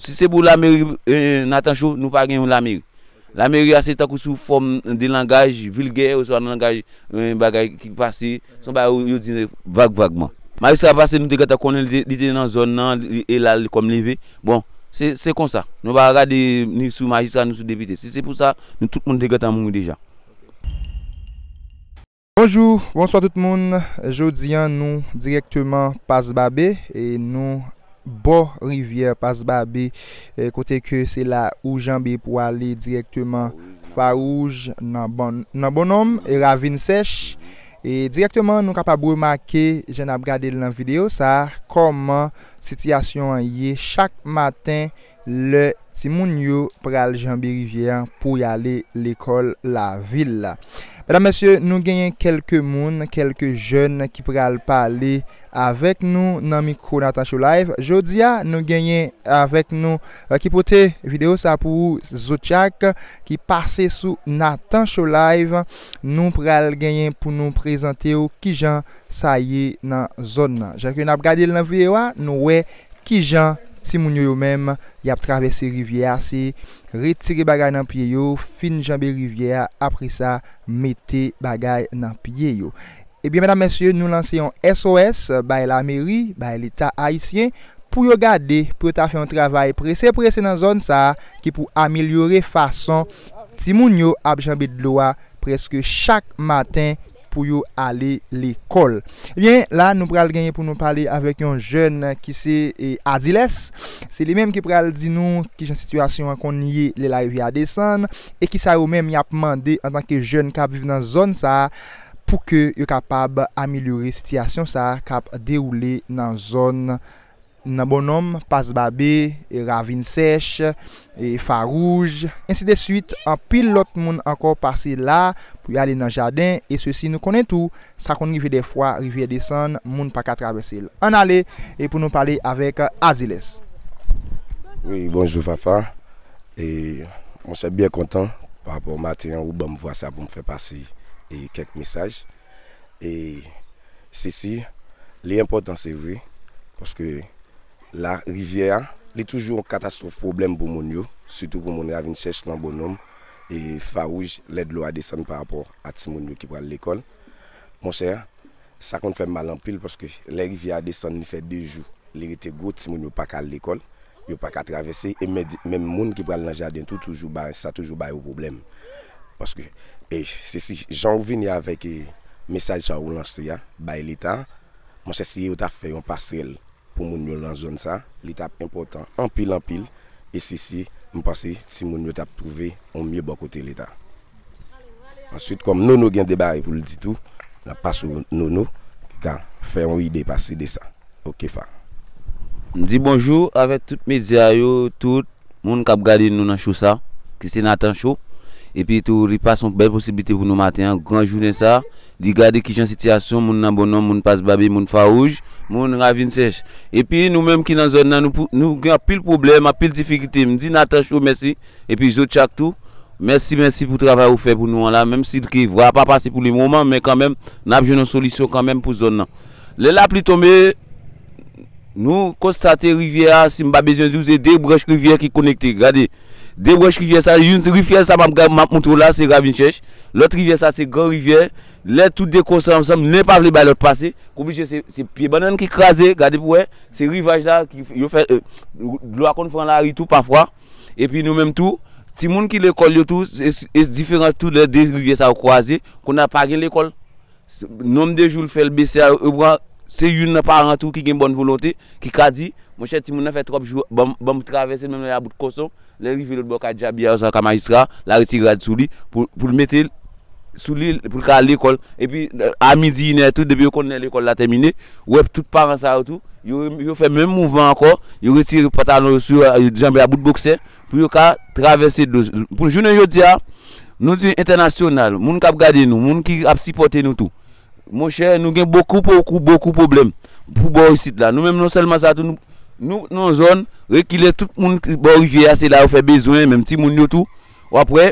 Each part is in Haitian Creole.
Si se pou lameri Natancho, nou pa gen yon lameri. Lameri a se tankou sou fòm de langaj vilgè oswa langaj bagay ki pase, se yon bagay yo di vag vagman. Majistra pase nou te gentan konnen li te nan zòn nan e l al kòm leve. Bon, se konsa. Nou pa gade ni sou majistra ni sou depite. Si se pou sa, nou tout moun te gentan mouri deja. Bonjou, bonswa tout moun, jodi an nou dirèkteman Pas Babe, nou bò rivyè Pas Babe kote ke se la ou janbe pou ale dirèkteman Farouj, nan Bonòm, Ravin Sèch, e dirèkteman nou kapab remake jan n ap gade l nan videyo sa a kòman sitiyasyon an ye chak maten Lè timoun yo pral janbe rivyè an pou y ale lekòl lavil la. Medam, mesye, nou genyen kèlke moun, kèlke jèn ki pral pale avèk nou nan mikwo Nathan Show Live. Jodi a, nou genyen avèk nou ki pote videyo sa pou ou, Zochak, ki pase sou Nathan Show Live. Nou pral genyen pou nou prezante ou kijan sa ye nan zòn nan. Jan ke n ap gade l nan videyo a, nou wè Kijan timoun yo yo menm yap travèse rivyè a se retire bagay nan pye yo fin janbe rivyè a apresa mete bagay nan pye yo ebyen medam mesye nou lanse yon SOS bay lameri bay leta ayisyen pou yo gade pou yo ta fè yon travay prese prese nan zòn sa ki pou amelyore fason timoun yo ap janbe dlo a prèske chak maten pou yo ale lekòl. Ebyen, la nou pral genyen pou nou pale avèk yon jèn ki se Adiles. Se li menm ki pral di nou ki jan sitiyasyon an konn ye lè larivyè a desann e ki sa yo menm y ap mande antanke jèn k ap viv nan zòn sa a pou ke yo kapab amelyore sitiyasyon sa a k ap dewoule nan zòn M nan Bonnonm, Pas Babe, Ravin Sèch, Farouj, ensi de suit, anpil lòt moun ankò pase la pou y ale nan jaden, e sesi nou konnen tou, sa konn rive dè fwa, rivyè desann, moun pa ka travèse l. Ann ale e pou nou pale avèk Aziles. Wi, bonjou Fafa. E, monchè, byen kontan, pa rapò maten an ou ban m vwa sa pou m fè pase e kèk mesaj. e sisi li enpòtan se vre paske la rivyè a li toujou yon katastwòf pwoblèm pou moun yo sitou pou moun ravin chèch nan bonòm e fawouj lè dlo a desann pa rapò a timoun yo ki pral lekòl monchè sa konn fèm mal anpil paske lè rivyè a desann li fè 2 jou li rete gwo timoun yo paka al lekòl Yo pa ka travèse e menm moun ki pral nan jaden tou toujou ba sa toujou ba yo pwoblèm paske e se si jan ou vini avèk e mesaj sa ou lanse a bay leta monchè si yo ta fè yon pasrèl pou moun yo lan zòn sa li tap enpòtan anpil anpil e si si m panse timoun yo tap twouve yon mye bò kote leta. Answit kòm Nono gen de bagay poul di tou nap pase w Nono ki ka fè yon ide pase de sa ok fa. M di bonjou avèk tout medya yo tout Moun kap gade nou nan cho sa ki se Nathan show epi tou li pase yon bèl posiblite pou nou maten an gran jounen sa li gade kijan sitiyasyon moun nan bon nonm moun pas babe moun fawouj moun ravin sèch epi nou menm ki nan zòn nan nou gen anpil pwoblèm anpil difikilte m di Nathan show mèsi Epi Zochak tou Mèsi mèsi pou travay ou fè pou nou an la menm si ke vwa pa pase pou le moman men kanmenm nap jwenn yon solisyon kanmenm pou zòn nan lè lapli tonbe nou konstate rivyè a si m pa bezwen di w se 2 branch rivyè ki konekte gade 2 branch rivyè sa youn se rifyè sa map gad map montre w la se ravin chèch lòt rivyè sa se gran rivyè lè tou 2 konsan ansanm nen pa vle bay lòt pase ou blije se se pye bannann ki kraze gade pou wè se rivaj la ki yo fè dlo a konn fran lari tou pafwa. Epi nou menm tou, timoun ki lekòl yo tou, e diferan tou lè de rivyè sa yo kwaze, kounye a pa gen lekòl. Nonm de jou l fè l bese a, ou pran, se youn nan paran tou ki gen bòn volonte, ki ka di, monchè timoun nan fè twòp jou, ban m travèse l menm lè l a bout koson, lè l rive lòt bò kay dyabi a oswa kay majistra a, l a retire rad sou li, pou l mete l, sou li pou l ka al lekòl. Epi a midi inè tou depi yo konn lè lekòl la tèmine, ou wè tout paran sa yo tou yo fè menm mouvman ankò, yo retire pantalon yo sou yo, yo janbe a bout boksè pou yo ka travèse dlo. Pou jounen jodi a, nou di entènasyonal, moun k ap gade nou, moun ki ap sipòte nou tou, monchè nou gen bokou bokou bokou pwoblèm pou bò isit la. Nou menm non sèlman sa tou, nou nan yon zòn rekile, tout moun bò rivyè a se la yo fè bezwen, menm timoun yo tou. wap wè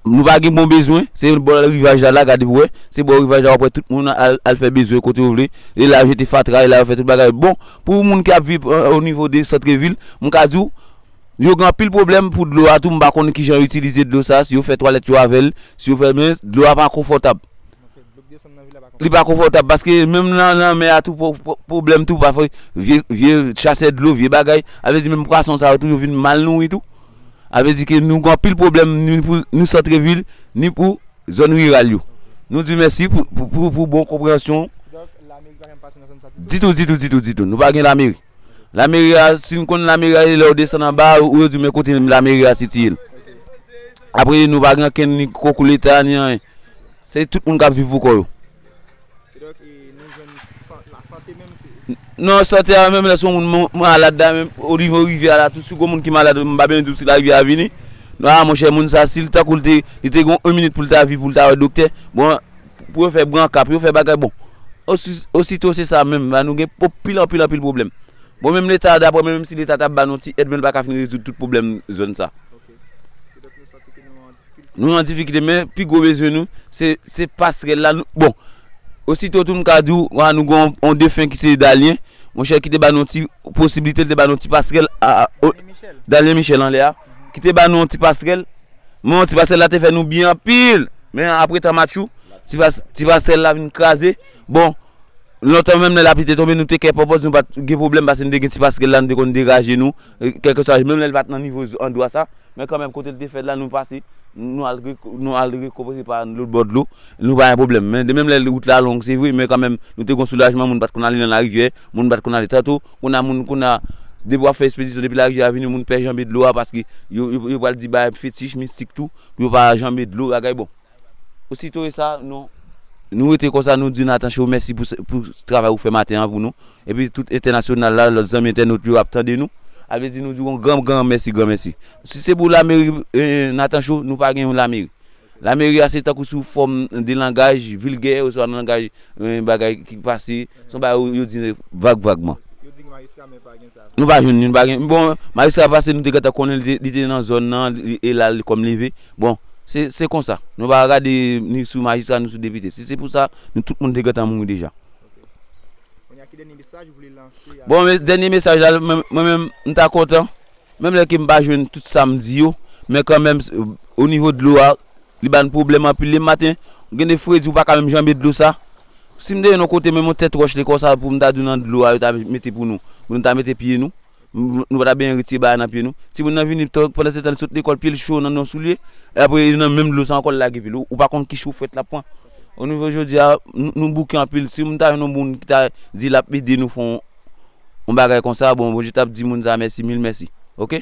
nou pa gen bon bezwen se bò rivaj la la gade pou wè se bò rivaj la wap wè tout moun al fè bezwen kote yo vle e la yo jete fatra e la yo fè tout bagay bon pou moun ki ap viv o nivo de santre vil m ka di w yo gen anpil pwoblèm pou dlo a tou m pa konnen kijan yo itilize dlo sa si yo fè twalèt yo avè l si yo fè men dlo a pa konfòtab. Li pa konfòtab paske menm nan lanmè a tou pwoblèm tou pafè vye chasè dlo vye bagay a vle di menm pwason sa yo tou yo vin mal nouri tou a vle di ke nou gen anpil pwoblèm ni pou nou santre vil ni pou zòn riral yo nou di mèsi pou bon konpreyansyon ditou ditou ditou nou pa gen lameri. Lameri a, si n konn lameri a, e lè ou desann anba a, ou yo di w men kote lameri a sitiye. Apre nou pa gen ankenn ni konkou leta ni anyen. Se tout moun k ap viv pou kò yo. Kidonk, e nou jwenn san, lasante menm se. Non, sante a menm lè se yon moun man, malad la menm, o nivo rivyè a la tou, si w gen yon moun ki malad, m pa bezwen di w si larivyè a vini. A monchè moun sa a si l tankou l te, li te gen yon minit pou l ta viv pou l ta wè doktè, bon, pou yo fè branka, pou yo fè bagay bon, osito se sa menm, nou gen anpil anpil anpil pwoblèm. Bon menm leta dapre mwen menm si leta ta ban nou ti èd menm l pa ka fin rezoud tout pwoblèm zòn sa. Nou an difikite men, pi gwo bezwen nou, se pasrèl la, bon, osito tou m ka di w, wè nou gen yon defen ki se Dalyen, mwen chè ki te ban nou ti posibilite, te ban nou ti pasrèl, Dalyen Michel anlè a, ki te ban nou ti pasrèl. Men an ti pasèl la te fè nou byen anpil. Men apre tan matchou, ti pasèl la vin kraze. Bon, lontan menm lè lapli te tonbe nou te kè pòpòz nou pa t gen pwoblèm pase nou te gen ti paskel la nou te konn degaje nou. Kèlkeswa, menm lè l pa t nan nivo andwa sa, men kanmenm kote l te fèt la nou pase, nou al nou al rekòpoze pa n lòtbò dlo, nou pa gen pwoblèm. Men menm lè wout la long se vre men kanmenm nou te gen soulajman moun pa t konn ale nan larivyè, moun pa t konn ale tantou. Kouna moun kouna depi wap fè espedisyon depi lari a vini moun pè janbe dlo a paske yo yo pral di bagay fetich mistik tou pou yo pa janbe dlo bagay bon osito e sa nou nou rete konsa nou di Nathan show mèsi pou pou travay ou fè maten an pou nou epi tout entènasyonal la lòt zanmi entènot yo ap tande nou a vle di nou di yon gran gran mèsi gran mèsi si se pou lameri Nathan show nou pa gen yon lameri. Lameri a se tankou sou fòm de langaj vilgè oswa nan langaj yon bagay ki pase, se yon bagay yo di vag vagman. Yo di gen majistra men pa gen sa. Nou pa jwenn li, nou pa gen. Bon, majistra pase nou te gentan konnen li te li te nan zòn nan e l al kòm leve. Bon, se se konsa. Nou pa gade ni sou majistra ni sou depite. Si se pou sa, nou tout moun te gentan mouri deja. Ok. Kounye a ki dènye mesaj ou vle lanse a Bon, men dènye mesaj la, mwen menm m ta kontan. Menm lè ke m pa jwenn tout sa m di yo, men kanmenm o nivo dlo a, li ba n pwoblèm anpil. Le maten, gen de fredi ou pa ka menm janbe dlo sa. Si m te yon kote, menm yon tèt wòch le konsa pou m ta di w nan dlo a yo ta mete pou nou, pou nou ta mete pye nou, nou pa ta benyen retire bagay nan pye nou. Timoun nan vini tan, pandan se tan li sot lekòl, pye l cho nan yon soulye, e apre li nan menm dlo sa ankò l lage pye l. Ou pa konn ki cho frèt l ap pran. O nivo jodi a, nou bouke anpil. Si m ta jwenn yon moun ki ta di l ap ede nou fè yon. yon bagay konsa bon Bondye tap di moun sa mèsi mil mèsi ok.